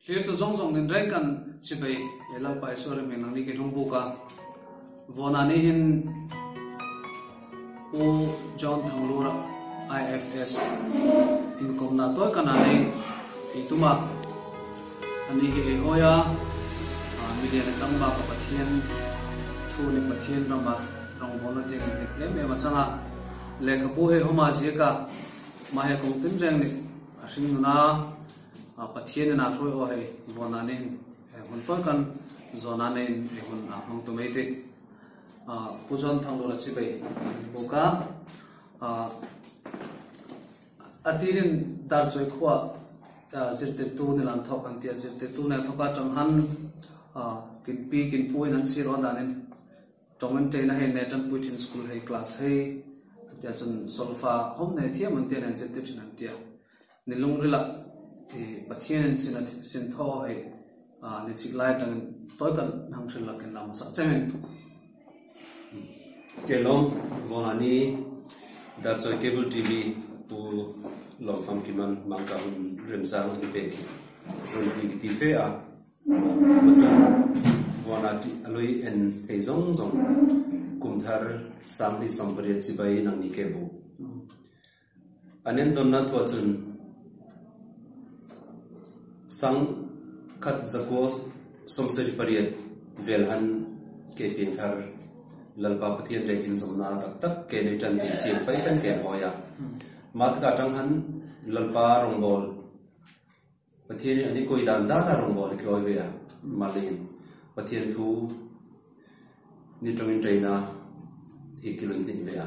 Thlir-tu zawng zawng in reng kan chhi bai. He Lalpa Isua rem hmel nang ni keihlawng buk a vawnah nihin Pu John Thanglura IFS inkawmna tawikana nei eituma ani hi ei hawi a, milian a chang baka Pathian thu leh Pathian rama rawngbawlna te kan hnek em em a chang a. Lehkhabu hei hawma ziaka mahea kawng tinreng leh a hring nuna, A Pathian in a hruai aw hei vawn ah nen he hmun pawl kan zawn ah nen he hmun a hmang tu mai te a Pu Zawn Thang Lula chi bei buk a a tir in Dar Chawi Khua zirtir tu ni lam thawk an ti a zirtir tu nen thawk a tang han a kin pi kin pu in an sir aw dan in tawng in train a hei nen tan pui thin school hei class hei a ti a chun solfa hawm nei thiam ang te nen zirtir thin an ti a. Ni lungrila i Pathianin sina sin thaw hai ni chik lai atangin tawi kan hnam thin lo ken lam sak chengin. Kelawng vawna ni Darchawi Cable TV pu Lawmfam Kiman Mangkar hun remzang an pek hi rawn ti ti fe a, kua chuan vawna tih a lui en thei zawng zawng, Kumthar Sangli sawmpariat chibai inang ni ke bu. An endawnna thua chun Sang khat zakua sawmseri pariat vel han ke piang thar. Lalpa Pathian leh inzawmna a tak tak ke nei tan tih chiang fai kan ken hawi a. Mah tak ah tang han Lalpa rawngbâwl Pathian in an i kawi dan dan a rawngbâwl i kawi ve a. Mah leh in Pathian thu ni tawngin traina hi ki lunhnih ve a.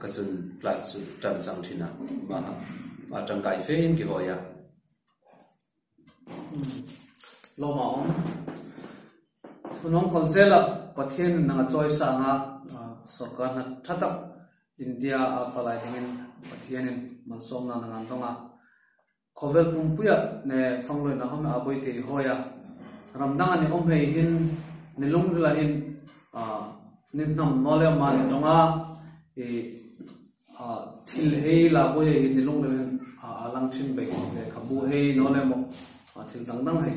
Ka chun Plus chu tan sang thin a, mah a tangkai fe in ki hawi a. Lawmah awm. Hunawm Council ah Pathian in nang a choice a ang a, sorkar hna tha tak India a palai ding in Pathian in man sawmna nang an dawng a. Khawvel pumpuia hne fangloin a home abawi tei hawi a, ram danga ni awm hei hin ni lungrila hin ni hnam nual leh mah ni tawng a, i thil hei la bawi hei hin ni lungrila hin a lang thin beih, lehkhabu hei nawl leh mawh thil dang dang hei.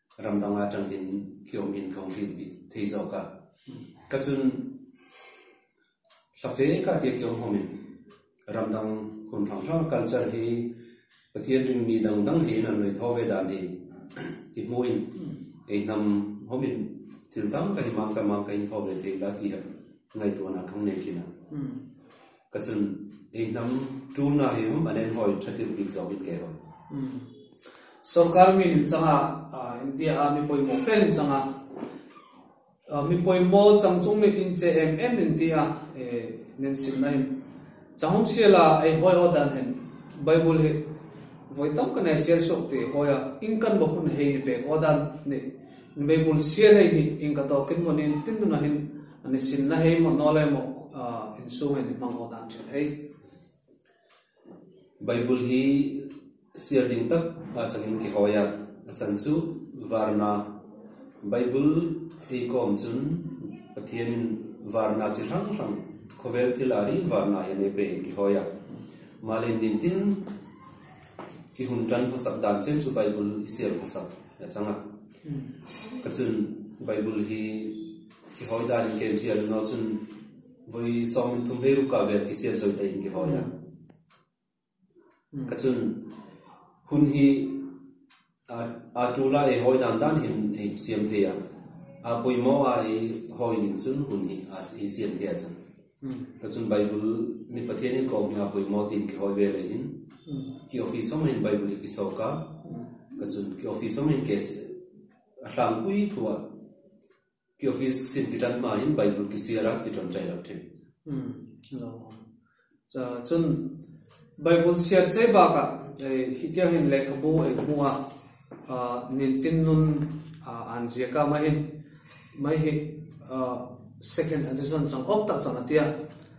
ram danga tangin khi awm hian ka awm tih bik thei zawk a, ka chun hla fe ka tia khi awm ho min ram dang hun hrang hrang culture hi Pathian ring mi dang dang hian an rawi tho ve dan hi ti hmuin ei hnam ho min thil tam ka hi mang ka mang ka in tho ve thei ila tia ngaihtuah na kang nei thin a. Ka chun ei hnam tuna hi hum an en hawi tha tirh bik zawk in keihawn. Sorkar min in chang a, India a mi pawimawh fel in chang a, mi pawimawh chang chung mit in che em em in ti a, nen sim na in. Chahung sial a ei hawi aw dan hen Bible hi vawi tam ka nei a sial suak ti hawi a, in kan bo hun hei ni pek aw dan nih Bible sial hei hi in ka tawk in mawni in tin dun ah hin, A ni sin na hei maw nawle maw insung in i hmang aw dan thin hei. Bible hi siar ding tak a changin ki hawi a, a san chu varna Bible eikawm chun Pathianin varna chi hrang hrang khawvel thil a ril varna hian e pe in ki hawi a. Mahlo in din tin i hun tan hmasak dan cheu chu Bible i siar hmasak a chang a. Ka chun Bible hi. Ki hawi dan in keng thian no chun vawi sawm in thum hei rukah vel ki siat zawite in ki hawi a. Ka chun hun hi aa tu lai ei hawi dan dan hin ei siam thei a. Aa pawimawh a ei hawi ning chun hun hi aa ei siam thei a chang. Ka chun Baibul mi Pathian in kawm hi aa pawimawh tiin ki hawi ve leh in ki office awmah in Baibul hi ki sawk a. Ka chun ki office awmah in ke a hlampuii thu ah. Ki office sin ki tan hma in bible ki siar a ki tawn chai lo thin. Umm alo awm cha chun bible siar chai bak ah hi tia hin lekha bu eng hmu a nin tin nun an zia ka mai hin mai hi second edition chang awk tak chang a tia.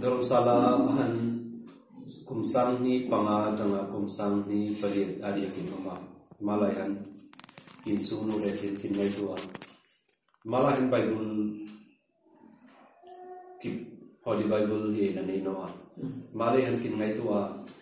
Dharamsala a han kum sanghni panga atanga kum sanghni pariat a riakin awm a. Himalaya hian pin chungnu leh pin thinlai tu a. Himalaya hian Bible kip Holy Bible hi a nei nawh a. Himalaya hian thinlai tu a.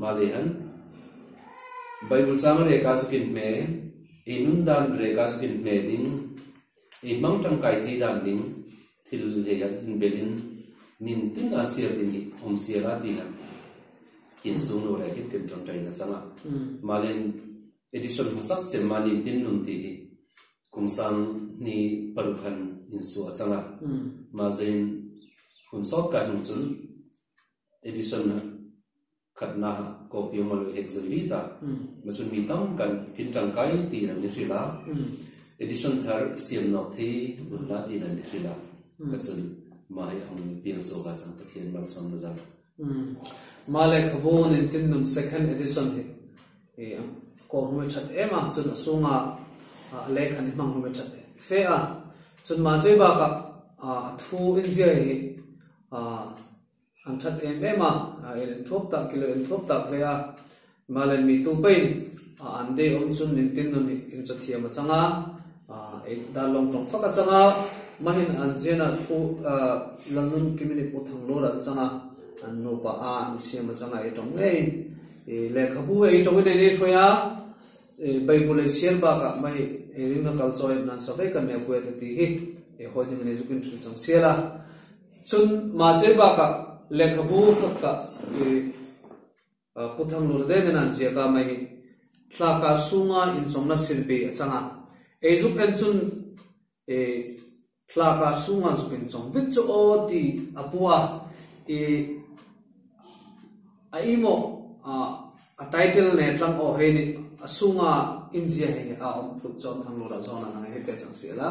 Mahni han Bible changa reka chu pin hme, ei nun dan reka chu pin hme ding, ei hmang tangkai thei dan ding thil leh ah inbelin nin tin ah siar din hi awm sia la ti han kin sung lo reng hian ken ṭanṭaih na chang a. Mahni in Edison hmasak chem a nin tin nun tih hi kum sang hni paruk han insuah a chang a. Mahzein hun sawt kai hnu cun Edison khatna copy awm a lo hek zui rit a, ma chu mi tam kan in tangkai tiin an i hrilh a, Edison thar i siam nawk thei lut la tiin an i hrilh a, ka chun ma hi a hmu i piang zawk a chang Pathian malsam na zan. Ma lehkhabu nen tin nun second Edison hi i kawh hmawih that em a, chun a chhunga a lek han i hmang hmawih that fe a, chun mahcei bakah a thu in ziah hi An that em em a, a el thuak tak kilo en thuak tak hle a, Himalayan mi tu pahin a an day awm chu min tin nun hi in chaw thiam a chang a, ei dar lawng tawng fak a chang a, mahin an zian a thu Lalnun Kimini Pu Thanglur an chang a, an nu pa a an siam a chang a ei tawng ngei, lehkha bu ei tawng in an i hruai a, Bible ei sial bak ah mai ei ring na kal chaw em nan sa vek an nei a Puia te ti hi, ei hawi ning in ei zuk in hrilh chang sial a. Chun mahse bakah lehkhabu hawtkah hi Pu Thang Lun Leng in an ziak a, mai hi thlaka sunga inchawmna sirbi a chang a, eizuk en chun i thlaka sunga zuk in chawm vek chu aw ti a hmu a, i a imawh a title nen tlang aw hei nih a sunga inziak hi a awm phut chuan Thang Lun ah zawn an hang a, heti a changsial a.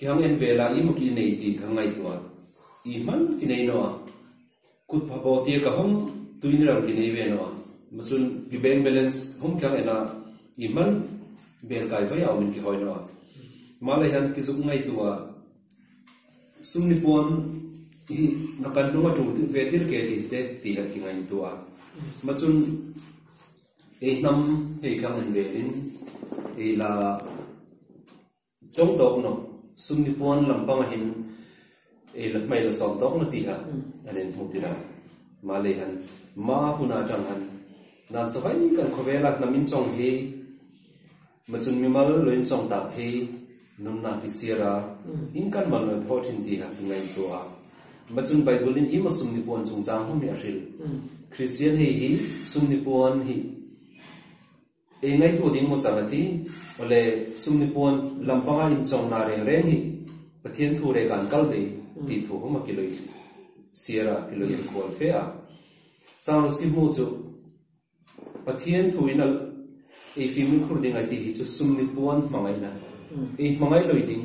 I hang en ve lah i mut i nei tih ka ngaihtuah i hman ki nei nawh a, kut pha bo tia ka hawm tui ni rang ki nei ve nawh a, mahchun i bank balance hawm kiang en a i hman bel kai vaih au min ki hawi nawh a, mah leh hian ki zuk ngaihtu a sum ni puan i na kan hnung a tul ve tir ke tih te ti let ki ngain tu a, mahchun ei hnam hei ki hang en velin ei la Chawng tawk no, sumni puan lam pangahin ei la hmai la sawm tawk lo tih kha an en thung tirh a. Mah lei han ma hun ah tang han nan sa vai kan khawvel a hnam in chawng hi mah chun mimal lo in chawng tak hi nunnak i siar a, in kan mal noi thaw thin tih kha khi ngaih tuah a. Mah chun Baibal in i maw sumni puan chungchang hmang hi a hril. Kristian hei hi sumni puan hnih. Ei ngaihtu ding maw chang a ti. Awle, sumni puan lam panga inchawngna reng reng hi Pathian thu rek an kal ve tih thu hawm a ki lawih siar a ki lawih en kual fe a. Charles ki hmu chu Pathian thu in a ei fimkhur ding ai tih hi chu sumni puan hmangaihna ei hmangai lawih ding,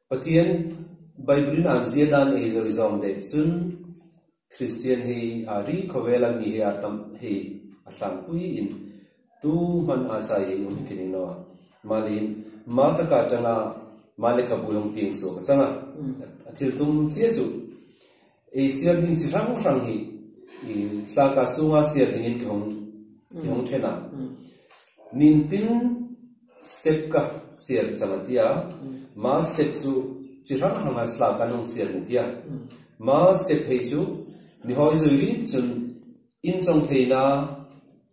Pathian Bible-in an zia dan hi zawh i zawm deuh chun Kristian hi aa ri khawvel a mi hi aa tam hi a hlan puiin tu hman aa chai hi um hi ka ring lo a. Mahleiin mau taka tanga mah lekhabu lawng piangsuak a chang a, a thil tum chiah chu. Ei siamding chi hrang hrang hi i hlakah chunga siamdingin ka hung, i hung then a. Min tin step ka siam chang a tia, mah step chu chi hrang hrang a hlak kan hung siam ni tia. Mah step hei chu mi hawi zui rin chun in chawngtheina,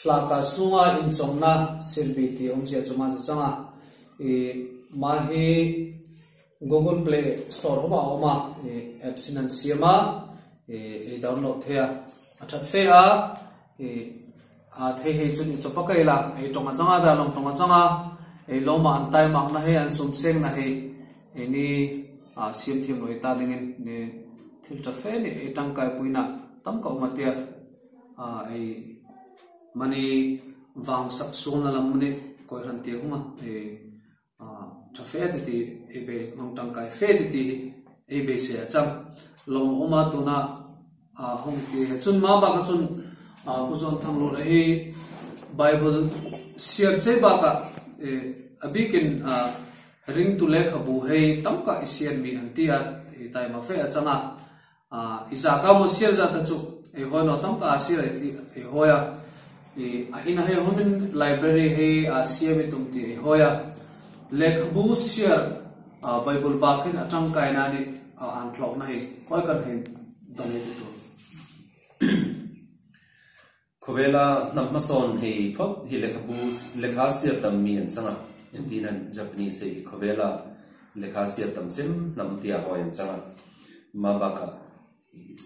Flaka sunga inchawmna sirbi tih awm chiah chu mahse chang a, ih mah hi Google Play Store hawmah a awm a, ih apps in an siam a, ih i download theih a, a that fe a, ih a thei hi chu ni chawpa ka ila ei tawngah chang a, dalawng tawngah chang a, ei lawmah an tai makna hei an sum sengna hei ei ni a siam thiam loh ih ta dingin ni thil ta fe nih ei tangkaipuina tam ka awm a tia. a ei mani vang sak sualna lam mani kawihran tir huma ei a tha fe ti ti ei be hmang tangkai fe ti ti ei be se a chang lawm a awm a tuna a hawng ti a chun ma baka chun a pu zawn thang rawh hi bible siar che baka e a bikin a ring tu lehkhabu hei tam kah i siar mi an ti a ei taima fe a chang a A Isaka maw sial zat a chuk ei hawi lo tam kah a sial ei tih ei hawi a, i a hina hei humin library hi a siam i tum tih ei hawi a, lehkhabu sial a Bible bakin a tangkai na nih a an tlawkna hi khawi kan hei dawn ei ti tur. Khawvela hnam hmasawn hei phawt hi lehkhabu lehkha siat tam mi an chang a, engtin a nih Japanese hei hi khawvela lehkha siat tam chem hnam tia hawi an chang a, mah bakah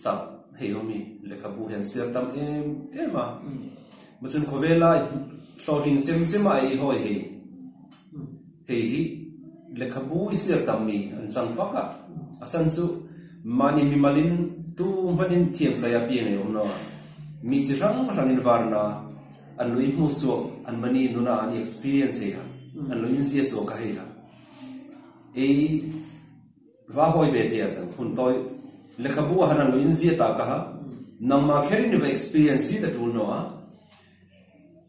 sak hei ho mi lehkhabu hian siar tam em em a, mah chun khawvela hlawhhling chem chem a ei hawi hei. Kei hi lehkhabu-i siar tam mi an chang fak a, a san chu mahni mimalin tu hmanin thiam sai a piang ei awm lo a, mi chi hrang hrangin varna an lo inhmuh suak an mahni nuna an i experience hei a, an lo inzia suak a hei a, ei va hawi ve thei a chang, hun tawi lehkhabu-ah han an lo inzia ta ka ha, nangma kher in i va experience hi ta tul hnu a,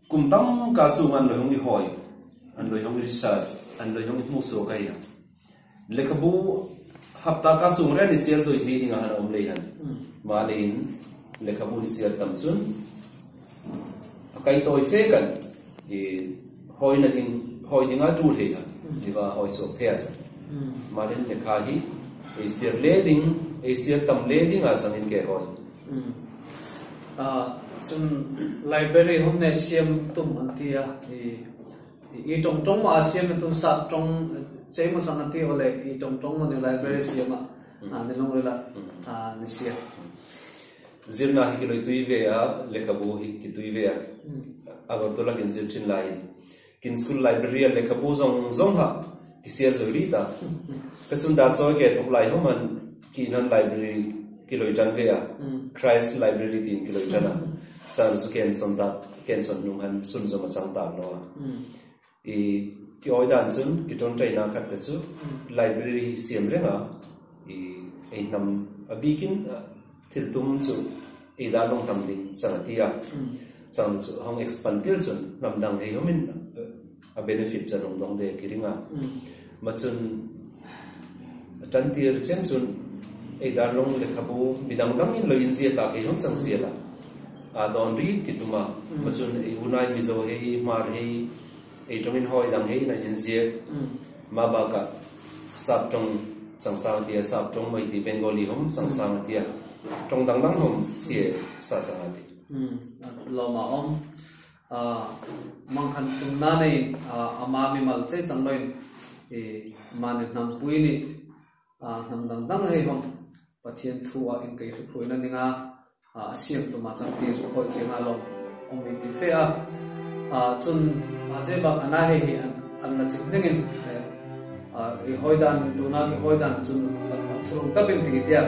Kum tam kah chunga an lawihawng i hawi, an lawihawng i research, an lawihawng i hmuhsual kha hi han. Lehkhabu hapta kah chung rian i siar zawih thei dingah han awm lei han. Mahni in lehkhabu an i siar tam chun a kaitawi fek an. Hawi na ding, hawi dinga tu hlei kha tiva hawi suak thei ah zan. Marin le kha hi ei sir le ding, ei sir tam le ding ah zan in ke hawi. Cun library hom nen siam tum an ti a, i i tong tong maw siam na tu sak tong cei maw cang an ti awle i tong tong maw nih library siam ah ni lawng rel ah ni siam. Zirna hi ki lawi tui ve a, lehkhabu hi ki tui ve a, a rawn tawlh a kin zir thin laiin. Kin school library a lehkhabu zawng zawng ha ki siar zawi rit a. Ka chun dah chawi ke thawk lai hawm an, ki nan library ki lawi tan ve a, Christ library tiin ki lawi tan a, chhan chu ken sawn tak, ken sawn hnung han sunzawm a chang tak lo a. I i awi dan chun i tawn train a khat te chu library i siam reng a, i ei hnam a bik in thil tum chu ei dan rawng hnam ni chang a ti a. Chang chu hong expand tir chun hnam dang hei awm in a benefit chan awm dawng ve ki ring a. Mahchun a tantir chiang chun ei darlawng lehkhabu mi dang dangin lo inziah ta kei hung chang sia la, aa dawn rit ki tum a, mahchun ei unai mizo hei hmar hei ei tawngin hawi dang heiin an inziak, mah bakah sap tawng changsang a ti a, sap tawng mawi ti Bengali hawm changsang a ti a, tawng dang dang hawm sia e sa chang a ti. Lawmah awm. Mang khan tum nan i ama mimal che chang lo in i mahni hnam pui nih hnam dang dang hei hawng Pathian thu ah in kei hriphruih na ning a a siam tum ah chang ti zu khawih chiang ah lawm awm in ti fe a chun mahse bak ana hei hi an la chik ning in i hawi dan tuna i hawi dan chun a thu rung tap in ti tiah